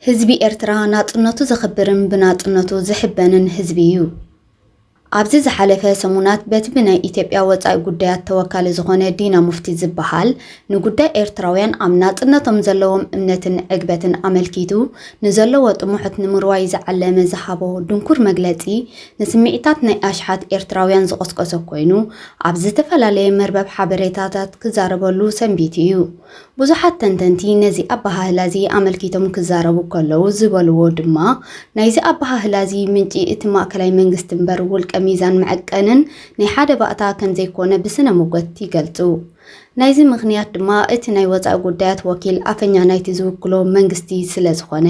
ህዝቢ ኤርትራ ናጽነቱ ዘኽብርን ብናጽነቱ ዝሕበንን ህዝቢ እዩ። ኣብዚ ዝሓለፈ ሰሙናት በቲ ብናይ ኢትዮጵያ ወጻኢ ጉዳያት ተወካሊ ዝኾነ ዲና ሙፍቲ ዝበሃል ንጉዳይ ኤርትራውያን ኣብ ናጽነቶም ዘለዎም እምነትን ዕግበትን ኣመልኪቱ ንዘለዎ ጥሙሕት ንምርዋይ ዝዓለመ ዝሃቦ ድንኩር መግለጺ ንስምዒታት ናይ ኣሽሓት ኤርትራውያን ዝቖስቆሰ ኮይኑ ኣብ ዝተፈላለየ መርበብ ሓበሬታታት ክዛረበሉ ሰንቢቱ እዩ። ብዙሓት ተንተንቲ ነዚ ኣበሃህላ'ዚ ኣመልኪቶም ክዛረቡ ከለዉ ዝበልዎ ድማ፣ ናይዚ ኣበሃህላ'ዚ ምንጪ እቲ ማእከላይ መንግስቲ'ምበር ውልቀ ሚዛን መዐቀንን ናይ ሓደ ባእታ ከምዘይኮነ ብስነ-ሞገት ይገልጹ። ናይዚ ምኽንያት ድማ እቲ ናይ ወጻኢ ጉዳያት ወኪል ኣፈኛ ናይቲ ዝውክሎ መንግስቲ ስለዝኾነ።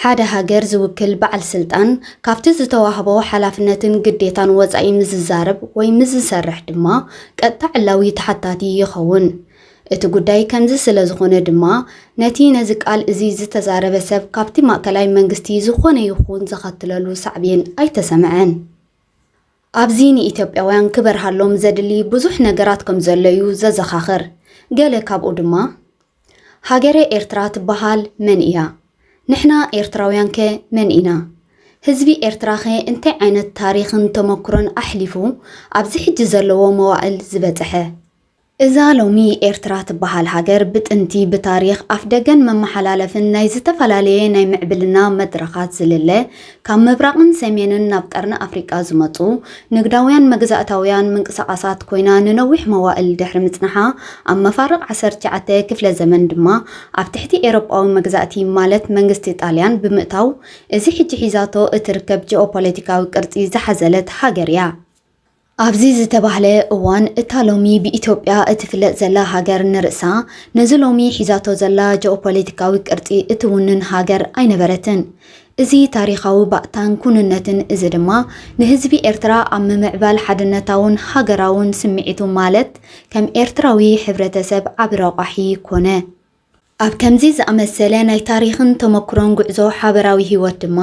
ሓደ ሃገር ዝውክል በዓል ስልጣን ካብቲ ዝተዋህቦ ሓላፍነትን ግዴታን ወጻኢ ምስ ዝዛረብ ወይ ምስ ዝሰርሕ ድማ ቀጥታ ዕላዊ ተሓታቲ ይኸውን። እቲ ጉዳይ ከምዚ ስለ ዝኾነ ድማ ነቲ ነዚ ቃል እዚ ዝተዛረበ ሰብ ካብቲ ማእከላይ መንግስቲ ዝኾነ ይኹን ዘኸትለሉ ሳዕቤን ኣይተሰምዐን። ኣብዚ ንኢትዮጵያውያን ክበርሃሎም ዘድሊ ብዙሕ ነገራት ከም ዘሎ እዩ ዘዘኻኽር። ገለ ካብኡ ድማ፣ ሃገረ ኤርትራ ትበሃል መን ኢያ? ንሕና ኤርትራውያንከ መን ኢና? ህዝቢ ኤርትራኸ እንታይ ዓይነት ታሪኽን ተመኩሮን ኣሕሊፉ ኣብዚ ሕጂ ዘለዎ መዋእል ዝበጸሐ? እዛ ሎሚ ኤርትራ ትበሃል ሃገር ብጥንቲ ብታሪኽ ኣፍደገን መመሓላለፍን ናይ ዝተፈላለየ ናይ ምዕብልና መድረኻት ዝልለ ካብ ምብራቕን ሰሜንን ናብ ቀርኒ ኣፍሪቃ ዝመጹ ንግዳውያን መግዛእታውያን ምንቅስቓሳት ኮይና ንነዊሕ መዋእል ድሕሪ ምጽናሓ ኣብ መፋርቕ ዓሰርተ ትሽዓተ ክፍለ ዘመን ድማ ኣብ ትሕቲ ኤሮጳዊ መግዛእቲ ማለት መንግስቲ ጣልያን ብምእታው እዚ ሕጂ ሒዛቶ እትርከብ ጂኦፖለቲካዊ ቅርጺ ዝሓዘለት ሃገር እያ። ኣብዚ ዝተባህለ እዋን እታ ሎሚ ብኢትዮጵያ እትፍለጥ ዘላ ሃገር ንርእሳ ነዚ ሎሚ ሒዛቶ ዘላ ጀኦፖለቲካዊ ቅርጺ እትውንን ሃገር ኣይነበረትን። እዚ ታሪኻዊ ባእታን ኩንነትን እዚ ድማ ንህዝቢ ኤርትራ ኣብ ምምዕባል ሓድነታውን ሃገራውን ስምዒቱ ማለት ከም ኤርትራዊ ሕብረተሰብ ዓቢ ረቋሒ ኮነ። ኣብ ከምዚ ዝኣመሰለ ናይ ታሪኽን ተመኩሮን ጉዕዞ ሓበራዊ ህይወት ድማ፣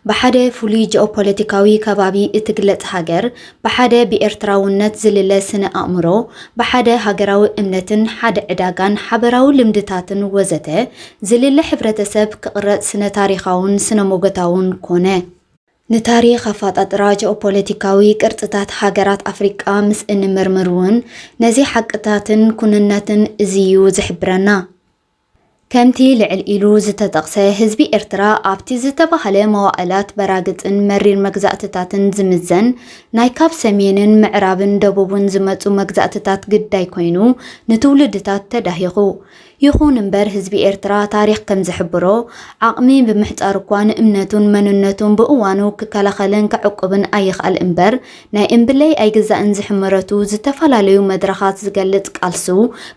ብሓደ ፍሉይ ጂኦፖለቲካዊ ከባቢ እትግለጽ ሃገር፣ ብሓደ ብኤርትራውነት ዝልለ ስነ-ኣእምሮ፣ ብሓደ ሃገራዊ እምነትን ሓደ ዕዳጋን ሓበራዊ ልምድታትን ወዘተ ዝልለ ሕብረተሰብ ክቕረጽ ስነ-ታሪኻውን ስነ-ሞጎታውን ኮነ። ንታሪኽ ኣፈጣጥራ ጂኦፖለቲካዊ ቅርጽታት ሃገራት ኣፍሪቃ ምስ እንምርምር'ውን ነዚ ሓቅታትን ኩንነትን እዚ'ዩ ዝሕብረና። ከምቲ ልዕል ኢሉ ዝተጠቕሰ፣ ህዝቢ ኤርትራ ኣብቲ ዝተባህለ መዋእላት በራግጽን መሪር መግዛእትታትን ዝምዘን ናይ ካብ ሰሜንን ምዕራብን ደቡብን ዝመጹ መግዛእትታት ግዳይ ኮይኑ ንትውልድታት ተዳሂኹ ይኹን እምበር ህዝቢ ኤርትራ ታሪኽ ከም ዝሕብሮ፣ ዓቕሚ ብምሕጻር እኳ ንእምነቱን መንነቱን ብእዋኑ ክከላኸልን ከዕቁብን ኣይኽኣል እምበር፣ ናይ እምብለይ ኣይግዛእን ዝሕመረቱ ዝተፈላለዩ መድረኻት ዝገልጽ ቃልሱ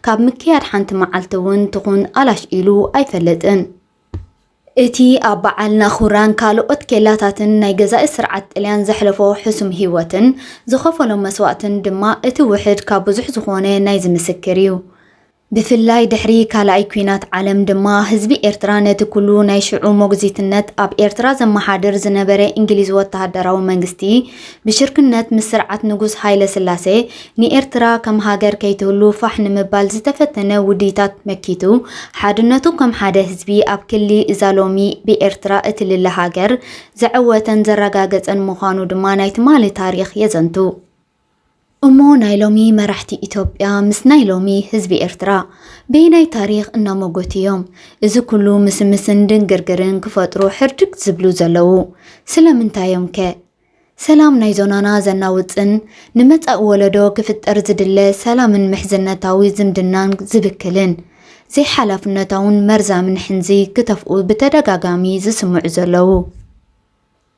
ካብ ምክያድ ሓንቲ መዓልቲ እውን ትኹን ኣላሽ ኢሉ ኣይፈልጥን። እቲ ኣብ በዓል ናኹራን ካልኦት ኬላታትን ናይ ገዛኢ ስርዓት ጥልያን ዘሕለፎ ሕሱም ህይወትን ዝኸፈሎ መስዋእትን ድማ እቲ ውሕድ ካብ ብዙሕ ዝኾነ ናይዚ ምስክር እዩ። ብፍላይ ድሕሪ ካልኣይ ኲናት ዓለም ድማ ህዝቢ ኤርትራ ነቲ ኩሉ ናይ ሽዑ ሞግዚትነት ኣብ ኤርትራ ዘመሓድር ዝነበረ እንግሊዝ ወተሃደራዊ መንግስቲ ብሽርክነት ምስ ስርዓት ንጉስ ሃይለስላሴ ንኤርትራ ከም ሃገር ከይትህሉ ፋሕ ንምባል ዝተፈተነ ውዲታት መኪቱ፣ ሓድነቱ ከም ሓደ ህዝቢ ኣብ ክሊ እዛ ሎሚ ብኤርትራ እትልለ ሃገር ዘዐወተን ዘረጋገጸን ምዃኑ ድማ ናይ ትማሊ ታሪኽ የዘንቱ። እሞ ናይ ሎሚ መራሕቲ ኢትዮጵያ ምስ ናይ ሎሚ ህዝቢ ኤርትራ በየናይ ታሪኽ እናሞጎቱ እዮም እዚ ኩሉ ምስምስን ድንግርግርን ክፈጥሩ ሕርድግ ዝብሉ ዘለዉ? ስለምንታዮምከ? ሰላም ናይ ዞናና ዘናውጽን ንመጻኢ ወለዶ ክፍጠር ዝድለ ሰላምን ምሕዝነታዊ ዝምድናን ዝብክልን ዘይሓላፍነታውን መርዛምን ሕንዚ ክተፍኡ ብተደጋጋሚ ዝስምዑ ዘለዉ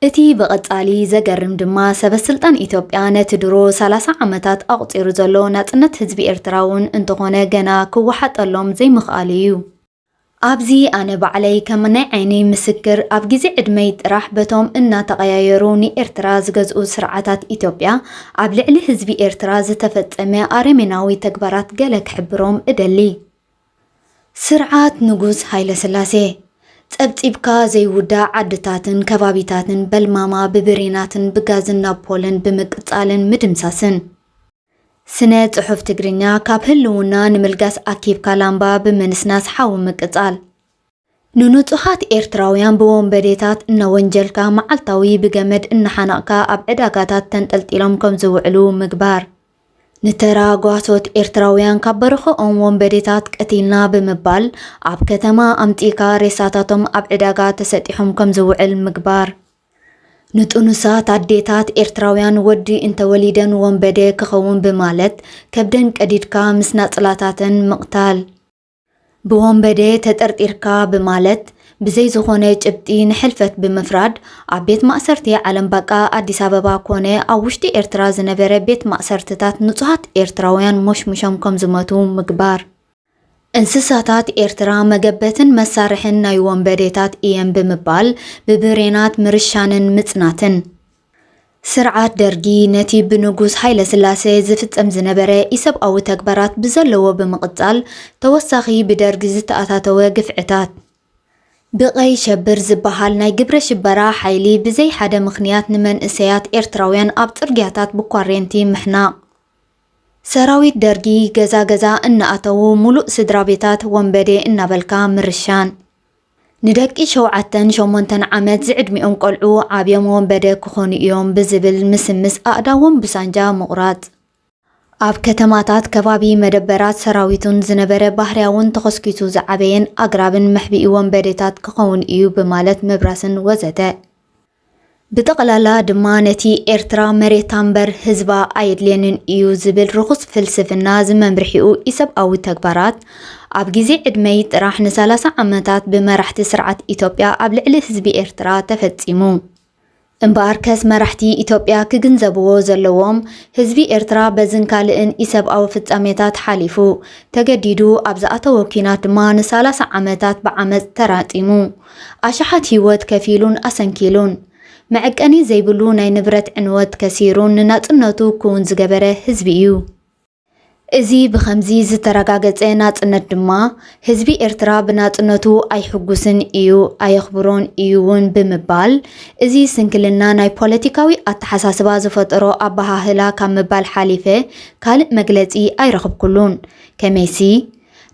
እቲ ብቐጻሊ ዘገርም ድማ ሰበስልጣን ኢትዮጵያ ነቲ ድሮ ሰላሳ ዓመታት ኣቑጺሩ ዘሎ ናጽነት ህዝቢ ኤርትራውን እንተኾነ ገና ክወሓጠሎም ዘይምኽኣሉ እዩ። ኣብዚ ኣነ ባዕለይ ከም ናይ ዓይነይ ምስክር ኣብ ግዜ ዕድመይ ጥራሕ በቶም እናተቐያየሩ ንኤርትራ ዝገዝኡ ስርዓታት ኢትዮጵያ ኣብ ልዕሊ ህዝቢ ኤርትራ ዝተፈጸመ ኣረሜናዊ ተግባራት ገለ ክሕብሮም እደሊ። ስርዓት ንጉስ ሃይለስላሴ፣ ጸብጺብካ ዘይውዳእ ዓድታትን ከባቢታትን በልማማ ብብሬናትን ብጋዝን ናብ ፖለን ብምቅጻልን ምድምሳስን፣ ስነ ጽሑፍ ትግርኛ ካብ ህልውና ንምልጋስ ኣኪብካ ላምባ ብምንስናስ ሓዊ ምቅጻል። ንንጹሃት ኤርትራውያን ብወንበዴታት እናወንጀልካ መዓልታዊ ብገመድ እናሓነቕካ ኣብ ዕዳጋታት ተንጠልጢሎም ከም ዝውዕሉ ምግባር። ንተራ ጓሶት ኤርትራውያን ካብ በርኽኦም ወንበዴታት ቀቲልና ብምባል ኣብ ከተማ ኣምጺእካ ሬሳታቶም ኣብ ዕዳጋ ተሰጢሑም ከም ዝውዕል ምግባር። ንጡኑሳት ኣዴታት ኤርትራውያን ወዲ እንተ ወሊደን ወንበደ ክኸውን ብማለት ከብደን ቀዲድካ ምስ ናጽላታተን ምቕታል። ብወንበደ ተጠርጢርካ ብማለት ብዘይ ዝኾነ ጭብጢ ንሕልፈት ብምፍራድ ኣብ ቤት ማእሰርቲ ዓለም ባቃ ኣዲስ ኣበባ ኮነ ኣብ ውሽጢ ኤርትራ ዝነበረ ቤት ማእሰርትታት ንጹሃት ኤርትራውያን ሞሽሙሾም ከምዝሞቱ ምግባር። እንስሳታት ኤርትራ መገበትን መሳርሕን ናይ ወንበዴታት እየን ብምባል ብብሬናት ምርሻንን ምጽናትን። ስርዓት ደርጊ ነቲ ብንጉስ ሃይለስላሰ ዝፍጸም ዝነበረ ኢሰብኣዊ ተግባራት ብዘለዎ ብምቕጻል ተወሳኺ ብደርጊ ዝተኣታተወ ግፍዕታት፣ ብቀይ ሸብር ዝበሃል ናይ ግብረ ሽበራ ሓይሊ ብዘይ ሓደ ምኽንያት ንመንእሰያት ኤርትራውያን ኣብ ጽርግያታት ብኳሬንቲ ምሕናቕ፣ ሰራዊት ደርጊ ገዛ ገዛ እናኣተዉ ሙሉእ ስድራቤታት ወንበዴ እናበልካ ምርሻን። ንደቂ ሸውዓተን ሸሞንተን ዓመት ዝዕድሚኦም ቆልዑ ዓብዮም ወንበደ ክኾኑ እዮም ብዝብል ምስምስ ኣእዳዎም ብሳንጃ ምቑራፅ። ኣብ ከተማታት ከባቢ መደበራት ሰራዊቱን ዝነበረ ባህርያውን ተኾስኪሱ ዝዓበየን ኣግራብን መሕብኢ ወንበዴታት ክኸውን እዩ ብማለት ምብራስን ወዘተ። ብጠቕላላ ድማ ነቲ ኤርትራ መሬታ እምበር ህዝባ ኣየድልየንን እዩ ዝብል ርኹስ ፍልስፍና ዝመምርሒኡ ኢሰብኣዊ ተግባራት ኣብ ግዜ ዕድመይ ጥራሕ ንሳላሳ ዓመታት ብመራሕቲ ስርዓት ኢትዮጵያ ኣብ ልዕሊ ህዝቢ ኤርትራ ተፈጺሙ። እምበኣርከስ መራሕቲ ኢትዮጵያ ክግንዘብዎ ዘለዎም ህዝቢ ኤርትራ በዝን ካልእን ኢሰብኣዊ ፍጻሜታት ሓሊፉ ተገዲዱ ኣብ ዝኣተዎ ኲናት ድማ ንሳላሳ ዓመታት ብዓመጽ ተራጢሙ ኣሽሓት ህይወት ከፊሉን ኣሰንኪሉን፣ መዐቀኒ ዘይብሉ ናይ ንብረት ዕንወት ከሲሩን ንናጽነቱ ክዉን ዝገበረ ህዝቢ እዩ። እዚ ብኸምዚ ዝተረጋገጸ ናጽነት ድማ፣ ህዝቢ ኤርትራ ብናጽነቱ ኣይሕጉስን እዩ፣ ኣየኽብሮን እዩ ውን ብምባል፣ እዚ ስንክልና ናይ ፖለቲካዊ ኣተሓሳስባ ዝፈጠሮ ኣበሃህላ ካብ ምባል ሓሊፈ ካልእ መግለጺ ኣይረኽብኩሉን። ከመይሲ፣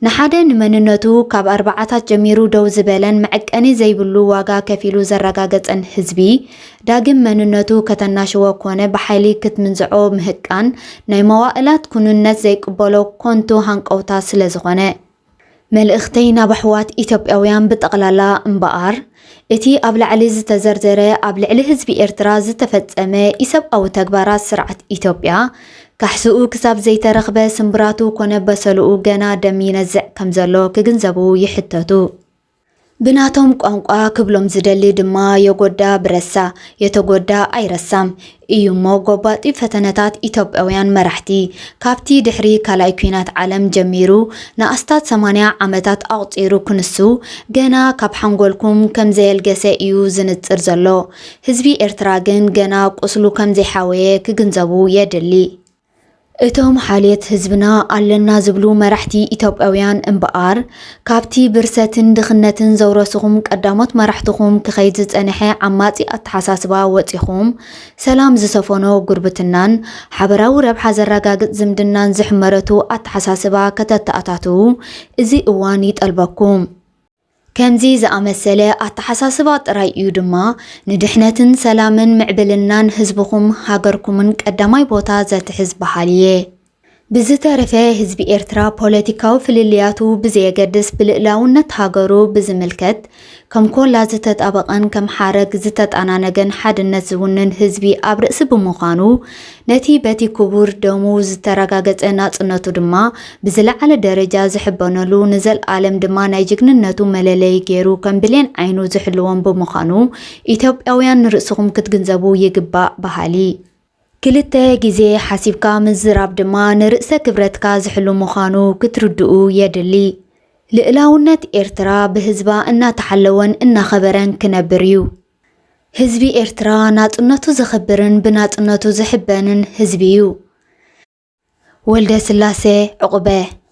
ንሓደ ንመንነቱ ካብ ኣርባዓታት ጀሚሩ ደው ዝበለን መዐቀኒ ዘይብሉ ዋጋ ከፊሉ ዘረጋገጸን ህዝቢ፣ ዳግም መንነቱ ከተናሽዎ ኮነ ብሓይሊ ክትምንዝዖ ምህቃን፣ ናይ መዋእላት ኩኑነት ዘይቅበሎ ኮንቱ ሃንቀውታ ስለዝኾነ። መልእኽተይ ናብ ኣሕዋት ኢትዮጵያውያን ብጠቕላላ እምበኣር፣ እቲ ኣብ ላዕሊ ዝተዘርዘረ ኣብ ልዕሊ ህዝቢ ኤርትራ ዝተፈጸመ ኢሰብኣዊ ተግባራት ስርዓት ኢትዮጵያ ካሕስኡ ክሳብ ዘይተረኽበ ስምብራቱ ኮነ በሰልኡ ገና ደም ይነዝዕ ከም ዘሎ ክግንዘቡ ይሕተቱ። ብናቶም ቋንቋ ክብሎም ዝደሊ ድማ የጎዳ ብረሳ የተጎዳ ኣይረሳም እዩ'ሞ ጎባጢ ፈተነታት ኢትዮጵያውያን መራሕቲ ካብቲ ድሕሪ ካልኣይ ኲናት ዓለም ጀሚሩ ንኣስታት ሰማንያ ዓመታት ኣቑጺሩ ክንሱ ገና ካብ ሓንጎልኩም ከም ዘየልገሰ እዩ ዝንጽር ዘሎ። ህዝቢ ኤርትራ ግን ገና ቁስሉ ከም ዘይሓወየ ክግንዘቡ የድሊ። እቶም ሓልየት ህዝብና ኣለና ዝብሉ መራሕቲ ኢትዮጵያውያን እምበኣር ካብቲ ብርሰትን ድኽነትን ዘውረስኹም ቀዳሞት መራሕትኹም ክኸይድ ዝጸንሐ ዓማጺ ኣተሓሳስባ ወጺኹም ሰላም ዝሰፈኖ ጉርብትናን ሓበራዊ ረብሓ ዘረጋግጽ ዝምድናን ዝሕመረቱ ኣተሓሳስባ ከተተኣታትዉ እዚ እዋን ይጠልበኩም። ከምዚ ዝኣመሰለ ኣተሓሳስባ ጥራይ እዩ ድማ ንድሕነትን ሰላምን ምዕብልናን ህዝብኹም ሃገርኩምን ቀዳማይ ቦታ ዘትሕዝ በሃሊ እየ። ብዝተረፈ ህዝቢ ኤርትራ ፖለቲካዊ ፍልልያቱ ብዘየገድስ ብልእላውነት ሃገሩ ብዝምልከት ከም ኮላ ዝተጣበቐን ከም ሓረግ ዝተጣናነገን ሓድነት ዝውንን ህዝቢ ኣብ ርእሲ ብምዃኑ ነቲ በቲ ክቡር ደሙ ዝተረጋገጸ ናጽነቱ ድማ ብዝለዓለ ደረጃ ዝሕበነሉ፣ ንዘልኣለም ድማ ናይ ጅግንነቱ መለለዪ ገይሩ ከም ብሌን ዓይኑ ዝሕልዎም ብምዃኑ ኢትዮጵያውያን ንርእስኹም ክትግንዘቡ ይግባእ በሃሊ። ክልተ ግዜ ሓሲብካ ምዝራብ ድማ ንርእሰ ክብረትካ ዝሕሉ ምዃኑ ክትርድኡ የድሊ። ልእላውነት ኤርትራ ብህዝባ እናተሓለወን እናኸበረን ክነብር እዩ። ህዝቢ ኤርትራ ናጽነቱ ዘኽብርን ብናጽነቱ ዝሕበንን ህዝቢ'ዩ። ወልደስላሴ ዑቕበ።